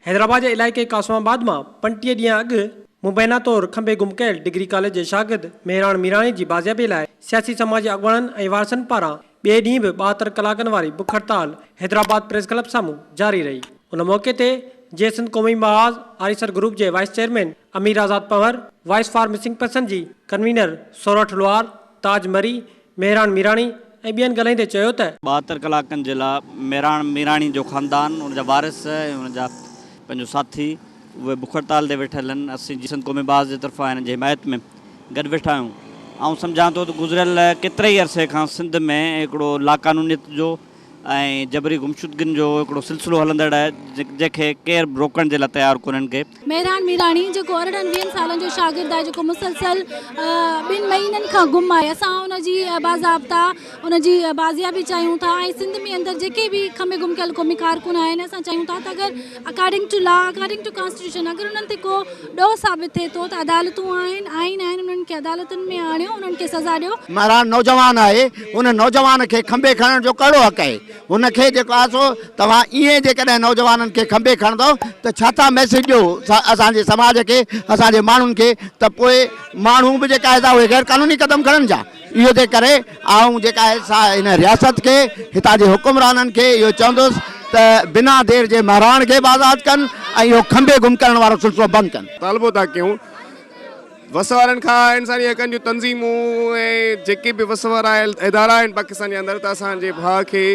حيدرآباد جي علائقي قاسم آباد مان پنٽيهه ڏينهن اڳ مبينا طور کنڀي گم ڪيل ڊگري ڪاليج جي شاگرد مهراڻ ميراڻي جي بازيابي لاء سياسي سماجي اڳواڻن ۽ وارثن پاران ٻئي ڏينهن به ٻاهتر ڪلاڪن واري بک هڙتال حيدرآباد پريس ڪلب سامهون جاري رهي ان موقعي تي جي سنڌ قومي محاذ آريسر گروپ جي vice chairman Amir Azad Panhwar, voice for missing person جي ڪنوينر سورٺ لوهار، تاج مري، مهراڻ ميراڻي ۽ ٻين ڳالهائيندي چيو ته. ٻاهتر ڪلاڪن جي لاء مهراڻ ميراڻي جو خاندان، ان جا وارث ۽ ان جا پنهنجو ساٿي اهي بک هڙتال تي ويٺل آهن، اسين جي سنڌ قومي بعث جي طرفان هنن جي حمايت ۾ گڏ ويٺا آهيون، آئون سمجهان ٿو ته گذريل ڪيتري ئي عرصي کان سنڌ ۾ هڪڙو لاقانونيت جو. ۽ جبري گمشدگين جو هڪڙو سلسلو هلندڙ آهي، جنهن کي ڪير به روڪڻ جي لاء تيار ڪونهن ڪي. مهراڻ ميراڻي جيڪو ارڙهن ويهن سالن جو شاگرد آهي جيڪو مسلسل ٻن مهينن کان گم آهي اسان ان جي باضابطا ان جي بازيابي چاهيون ٿا ۽ سنڌ ۾ اندر جيڪي به کمي گم ڪيل قومي ڪارڪن آهن اسان چاهيون ٿا ته اگر according to law, according to constitution اگر انهن تي ڪو ڏوهه ثابت ٿئي ٿو ته عدالتون آهن، آئين آهن، انهن کي عدالتن ۾ آڻيو، انهن کي سزا ڏيو. مهراڻ نوجوان آهي، ان نوجوان کي کنڀي کڻڻ جو ڪهڙو حق آهي؟ هن کي جيڪو آهي سو توهان ائين جيڪڏهن نوجوانن کي کنڀي کڻندؤ ته ڇا ٿا ميسيج ڏيو اسان جي سماج کي، اسان جي ماڻهن کي ته پوء ماڻهو به جيڪا آهي سا اهي غيرقانوني قدم کڻن ڇا؟ اهو تنهن ڪري آئون جيڪا آهي سا هن رياست کي، هتان جي حڪمرانن کي اهو چوندس ته بنا دير جي مهراڻ کي به آزاد ڪن ۽ اهو کنڀي گم ڪرڻ وارو سلسلو بند ڪن. مطالبو ٿا ڪيون وس وارن کان انساني حقن جون تنظيمون ۽ جيڪي به وس وارا ادارا آهن پاڪستان جي اندر ته اسان جي ڀاء کي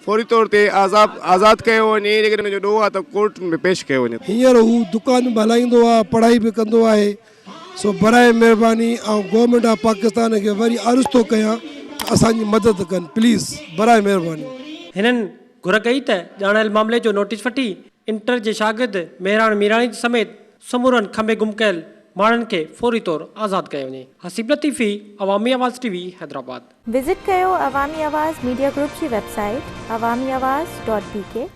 فوري طور تي آزاد ڪيو وڃي ۽ جيڪڏهن ان جو ڏوهه آهي ته ڪورٽن ۾ پيش ڪيو وڃي. هينئر هو دڪان به هلائيندو آهي، پڙهائي به ڪندو آهي. سو براهه مهرباني آئون گورنمينٽ آف پاڪستان کي وري عرض ٿو ڪيان ته اسان جي مدد ڪن پليز براهه مهرباني. هنن گهر ڪئي ته ڄاڻايل معاملي جو نوٽيس وٺي انٽر جي شاگرد مهراڻ ميراڻي سميت سمورن کنڀي گم ڪيل ماڻهن کي فوري طور آزاد ڪيو وڃي Haseeb Latifi Awami Awaz T V Hyderabad. Visit ڪيو عوامي آواز ميڊيا گروپ جي website Awami Awaz dot بي ڪي.